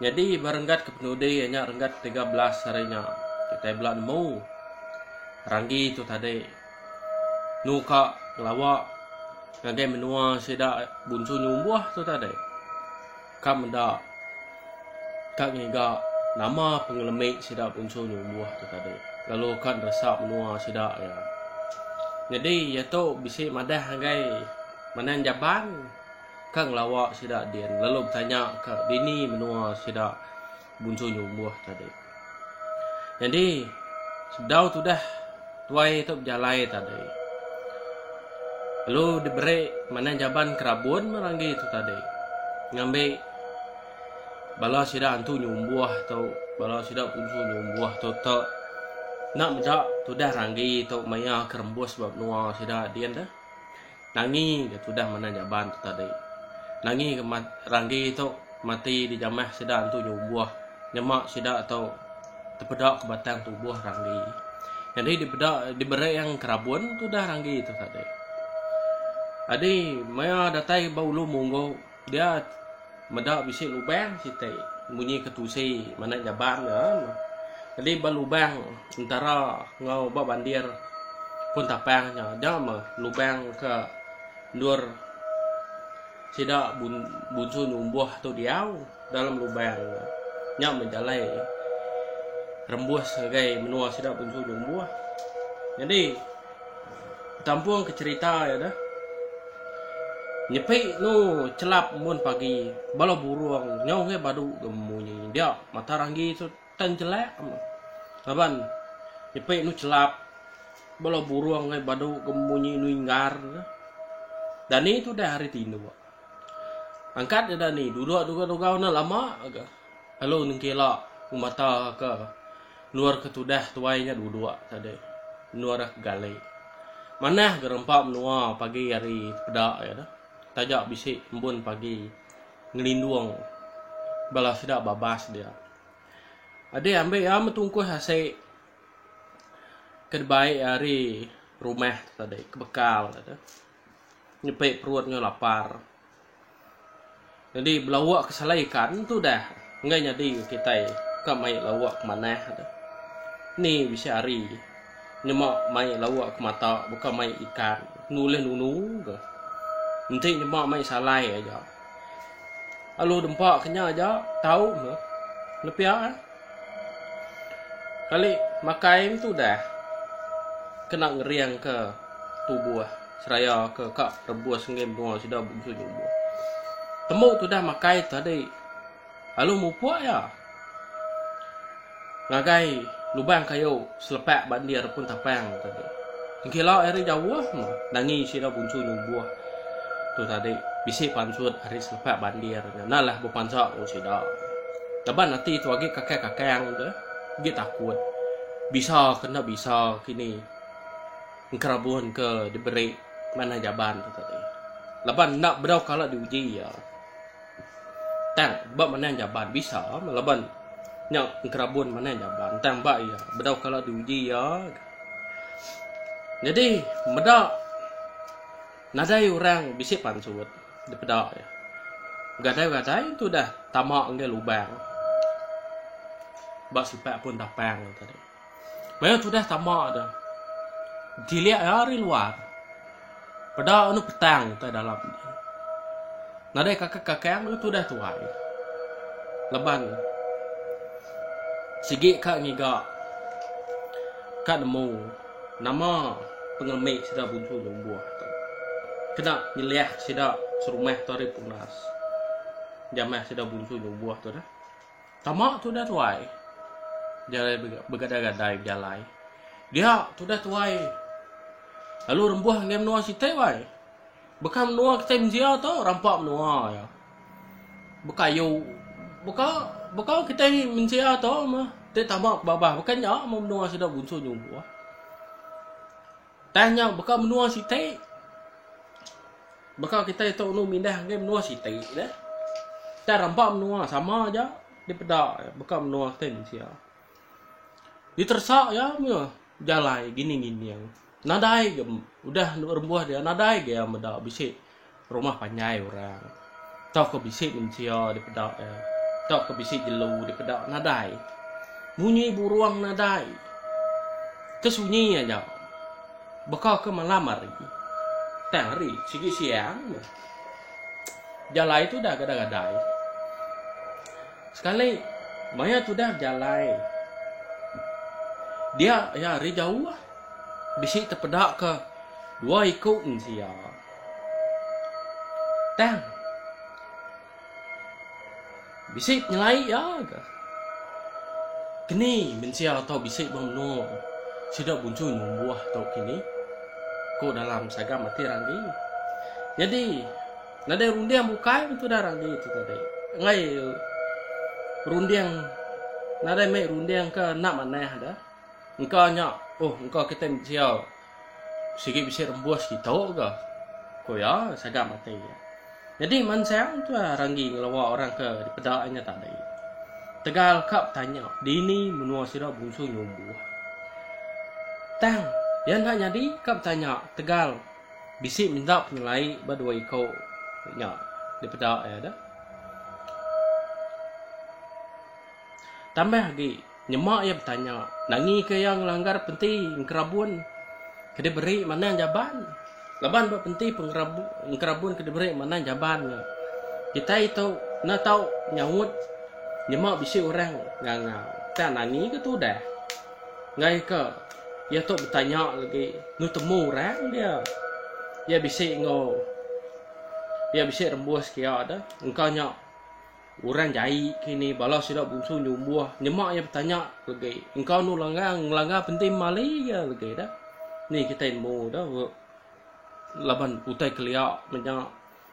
Nyadi ba renggat ke penudi nya renggat tiga belas hari nya kitai bela nemu Ranggi tu tadi nu ka ngelawa ngagai menua sida Bunsu Nyumbuh tu tadi ka meda ka ngiga nama pengelemi sida Bunsu Nyumbuh tu tadi lalu ka neresa menua sida iya. Nyadi iya tu bisi madah ngagai Manang Jaban. Ka ngelawa sida din lalu betanya ka dini menua sida bunsu nyumbuh tadi. Nyadi sebedau tudah tuai tu bejalai tadi lalu diberi manah jaban kerabun meh ranggi tu tadi ngambi bala sida antu nyumbuh tu bala sida bunsu nyumbuh tu te enda meda tudah ranggi tu maya ke rembus ba menua sida din deh. Nangi ga tudah manah jaban tu tadi. Nangi ga mat Ranggi tu mati di jamah sida antu nyumbuh nyema sida tu tepeda ke batang tubuh Ranggi. Nyadi dipeda dibereng ke rabun tudah Ranggi tu tadi. Adi maya datai ba Ulu Munggu. Dia meda bisi lubang siti munyi ketusi manah jaban ga. Tadi ba lubang entara enggau ba bandir pun tapang nya nya mah lubang ke endur sida bunsu nyumbuh tu diau dalam lubang nya. Nya mah jalai rembus ngagai menua sida bunsu nyumbuh. Nyadi Tampung ke cerita iya dah. Nyepi nu chelap mun pagi bala burung nyau ngai badu ga munyi dia mata ranggi tu tan chelak laban nyepi nu chelap bala burung ngai badu ga munyi nu inggar dah. Dani tu dah hari tinduk. Angkat dani duduk dugau-dugau ne lama ga. Lalu nengkila ku mata ke nuar ke tudah tuai nya duduk tadi nuar ke gali. Manah gerempa menua pagi hari peda iya tu taja bisi embun pagi ngelindung bala sida babas dia. Adik ambi iya meh tungkus asi ke dibai iya ari rumah tadi ke bekal iya tu nyepi perut nya lapar. Jadi belawa ke selai ikan tu dah enggak nyadi kita ka mai lawa ke manah tu. Ni bisi hari nyema mai lawa ke mata buka mai ikan nulih nunu ke. Enti nyema mai salai aja. Alu dempa ke nya aja tau ke. Nepia. Kali makai em tu udah kena ngeringka tubuh seraya ke ka rebus enggai menua sida bengsu nyubuh. Tembu tu udah makai tadi lalu mupuk iya ngagai lubang kayu. Selepak ba endir pun tapang tadi. Engkila ari jauh meh nangi sida bunsu nyubuh tu tadi bisi pansut ari selepak ba endir nya enda lah bepansa enggau sida. Laban ati tu agi kakang-kakang tu agi takut bisa ke enda bisa kini engkerabun ke diberi manah jaban tu tadi. Laban enda bedau kala diuji iya. Tang ba manang jaban bisa laban nya enkerabun manang jaban tang ba iya bedau kala diuji iya. Nyadi meda nadai orang bisi pansut dipeda iya. Begadai-begadai tu udah tama ngagai lubang ba sipak pun tapang tadi. Maya tudah tama tu, dilik iya ari luar. Peda anu petang utai dalam tu. Nadai kakang-kakang lalu tudah tuai. Laban sigi ka ngiga ka nemu nama pengelemi sida buncu nyumbuh tu. Kena nyeliah sida serumah tu ari punas. Jamah sida buncu nyumbuh tu dah. Tama tudah tuai. Jalai begadai-gadai bejalai. Dia tudah tuai. Lalu rembuh enggai menua siti wai. Beka menua kitai mensia tu rampa menua iya. Bekayu beka beka kitai mensia tu meh ti tama ke babah beka nya meh menua sida bunsu nyungkuh. Tang nya baka menua siti baka kitai tu ulu mindah ngagai menua siti dah. Tang rampa menua sama aja dipeda baka menua kitai mensia. Diteresa iya meh jalai gining-gining. Nadai ga udah rembuh dia nadai ga iya meda bisi Rumah panjai orang tauka bisi mensia dipeda iya tauka bisi jelu dipeda nadai. Munyi burung nadai ke sunyi aja baka ke malam hari tang hari sigi siang meh. Jalai tudah gadai-gadai. Sekali maya tudah bejalai dia iya hari jauh bisi tepeda ke dua iku mensia. Tang. Bisi penyelai ya ke? Kini mensia atau bisi bemno sida buncu nyumbuh tu kini. Ko dalam saga mati randi. Jadi nadai runding bukai tu dah randi tu tadi. Ngai runding nadai mai runding ke nak manah dah. Engka nya oh engka kita mensia Sigi bisi rembus kitu ga. Ku iya sagam ati. Nyadi mansang tu ranggi ngelawa orang ke dipeda inya tadi. Tegal ka betanya dini menua sida bungsu nyumbuh. Tang iya enda nyadi ka betanya tegal bisi minta penyelai ba dua iku nya dipeda iya deh. Tambah agi, nyema iya betanya, nangika iya ngelanggar Penti Engkerabun ke diberi Manang Jaban? Laban ba Penti Engkerabun ke diberi Manang Jaban nya, kitai tu enda tau nyaut nyema bisi orang ngangau. Tang nangika tudah? Ngaika iya tu betanya lagi enggau temu orang dia, iya bisi enggau iya bisi rembuska iya tu, engka nya. Orang jai ke ni bala sida bunsu nyumbuh nyema iya betanya legi engkau enu langgar ngelanggar penti memali iya legi dah ni kitai nemu dah laban utai kelia menya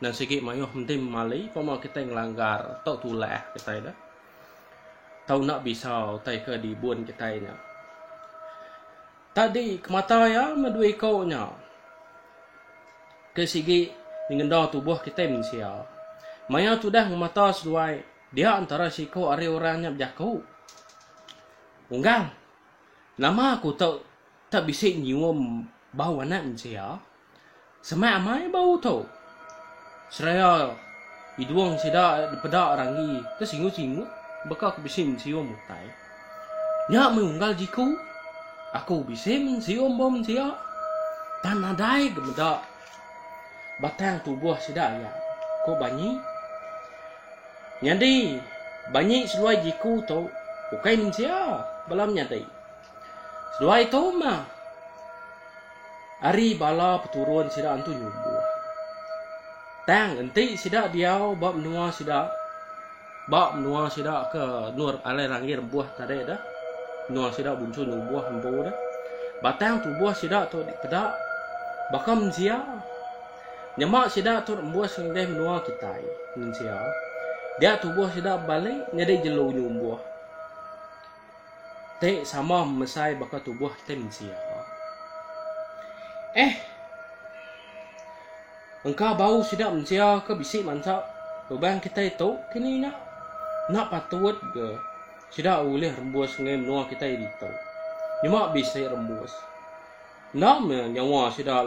nan sigi maioh menti memali pama kitai ngelanggar tau tulah kitai dah tau enda bisa utai ke dibun kitai nya. Tadi ke mata iya meh dua iko nya. Ke sigi nyengenda tubuh kitai mensia. Maya tudah ngemata seduai, dia entara siko ari orang nya bejaku, Unggal, nama aku tu tak bisi nyium bau anak mensia? Semak amai ba uto. Seraya idung sida dipeda ranggi ke singut-singut baka ke bisi mensium utai. Nya meh unggal jiku aku bisi mensium ba mensia tang nadai ke meda batang tubuh sida aya, ku Banyi. Nyadi, Banyi seduai jiku tu ukai mensia bala menyadi. Seduai tu mah ari bala peturun sida antu nyumbuh. Tang enti sida diau ba menua sida ba menua sida ke nur alai langit embuh tadi dah. Menua sida buncu nyumbuh empu dah. Batang tubuh sida tu dipeda baka mensia. Nyema sida tu embus ngagai menua kitai, mensia. Dia tubuh sida bebali nyadi jelu nyumbuh. Te sama mesai baka tubuh kitai mensia. Eh. Engka bau sida mensia ke bisi mansa beban kitai tu kini nya. Enda patut ke sida ulih rembus ngagai menua kitai ditu. Nyema bisi rembus. Enda meh nyawa sida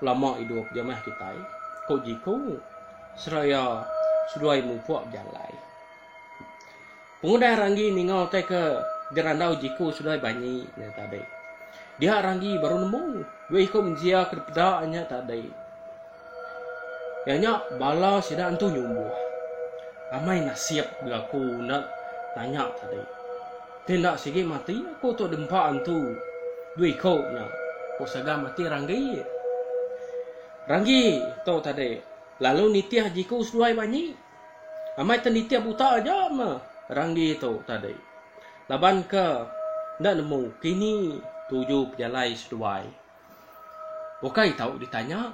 lama idup ja meh kitai, ku Jiku seraya seduai mupuk jalai. Pengudah Ranggi ninga utai ke gerandau jiku Seloi Banyi nya tadi. Dia Ranggi baru nemu dua iku mensia ke dipeda nya tadi. Iya nya bala sida entu nyumbuh. Amai nasib belaku enda nanya tadi. Ti enda sigi mati aku tu dempa entu dua iku nya, ku saga mati Ranggi. Ranggi tu tadi lalu nitih jiku Seloi Banyi. Amai te nitip uta aja me Randi tu tadi. Laban ke enda nemu kini tuju pejalai seduai. Ukai tau ditanya,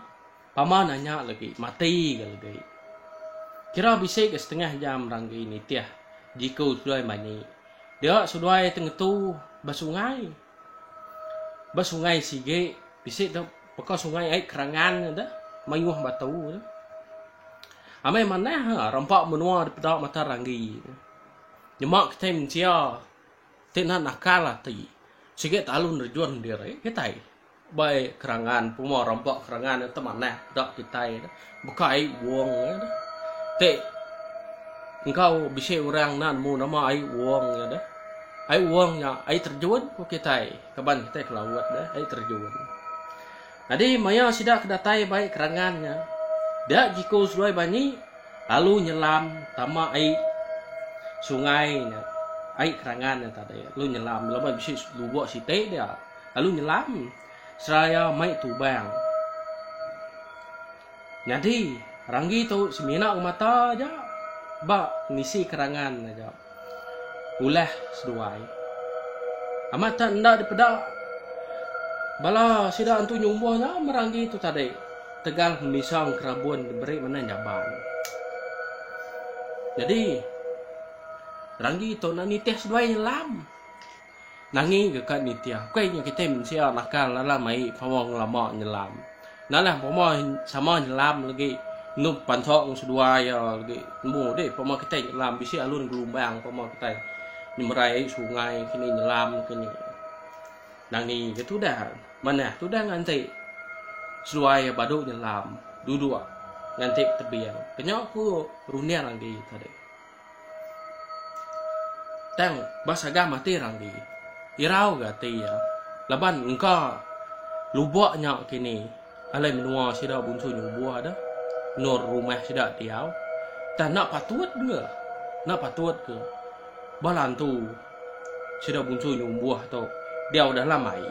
pama nanya legi mati ga legi. Kira bisi ga setengah jam Randi nitih jiku seduai manyi dia seduai te ngetu ba sungai. Ba sungai sigi bisi tu baka sungai ai kerangan tu dah mayuh batu tu. Amai manah ha rampa menua dipeda mata ranggi tu. Nyema kitai mensia ti neh nakal ati sigi talu nerejun diri kitai. Bai kerangan pemua rempa kerangan enti manah da kitai dah baka ai wong ai dah. Ti enggau bisi orang enda nemu nama ai wong ai dah. Ai wong nya ai terjun ku kitai kaban kitai ke laut dah ai terjun. Nyadi maya sida ke datai bai kerangan nya dia jiku seduai banyi lalu nyelam tama ai sungai nya ai kerangan nya tadi lalu nyelam laban bisi lubok siti dia. Lalu nyelam seraya mai tubang. Nyadi, Ranggi tu semina ngemata aja ba ngisi kerangan aja ulah seduai. Amat tak enda dipeda bala sida antu nyumbuh nya me Ranggi tu tadi tegal ngemisang kerabun diberi menang jaban. Nyadi, Ranggi tu nak nitih seduai nyelam. Nangi deka nitih akui nya kitai mensia nakal alah mai pengawa ngelama nyelam. Nalah pama sama nyelam legi endu pansong seduai iya legi tembu deh pama kitai nyelam bisi alun gelumbang pama kitai nyemerai ai sungai kini nyelam kini. Nangi ke tudah manah tudah nganti seduai iya badu nyelam duduk nganti tebing. Kenya ku runding agi tadi. Tang ba sagam ati Randi, irau ga ati iya laban engka lubok nya kini alai menua sida bunsu nyubuh deh endur rumah sida diau. Tang enda patut ke, enda patut ke bala entu sida bunsu nyubuh tu diau dalam ai.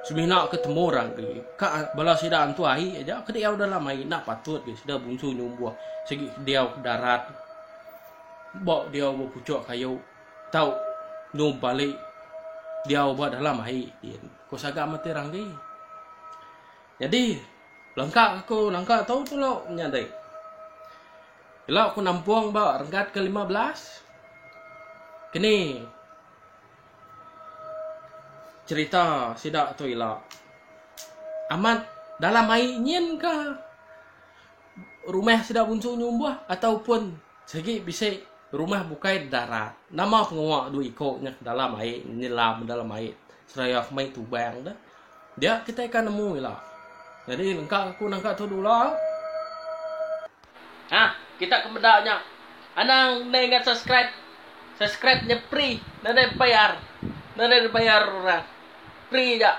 Semina ke temu Randi, ka bala sida antu ai aja ke diau dalam ai enda patut ke sida bunsu nyubuh sigi diau ke darat. Ba diau ba puchok kayu tau nyu bali diau ba dalam ai din ku saga mati ranggi. Nyadi langka aku nangka tu tulu nyadi. Ila ku nampong ba renggat ke lima belas kini cherita sida tu ila amat dalam ai nyin ka. rumah sida bunsu nyumbuh atau pun sigi bisi rumah bukai di darat nama pengawa dua iko nya ke dalam ai nyelam ke dalam ai seraya ke mai tubang tu dia kitai akan nemu ila jadi engka aku nangka tu dulu ha kita ke meda nya anang ndai ngan subscribe subscribe nya free nda ada bayar nda ada bayar orang free ja.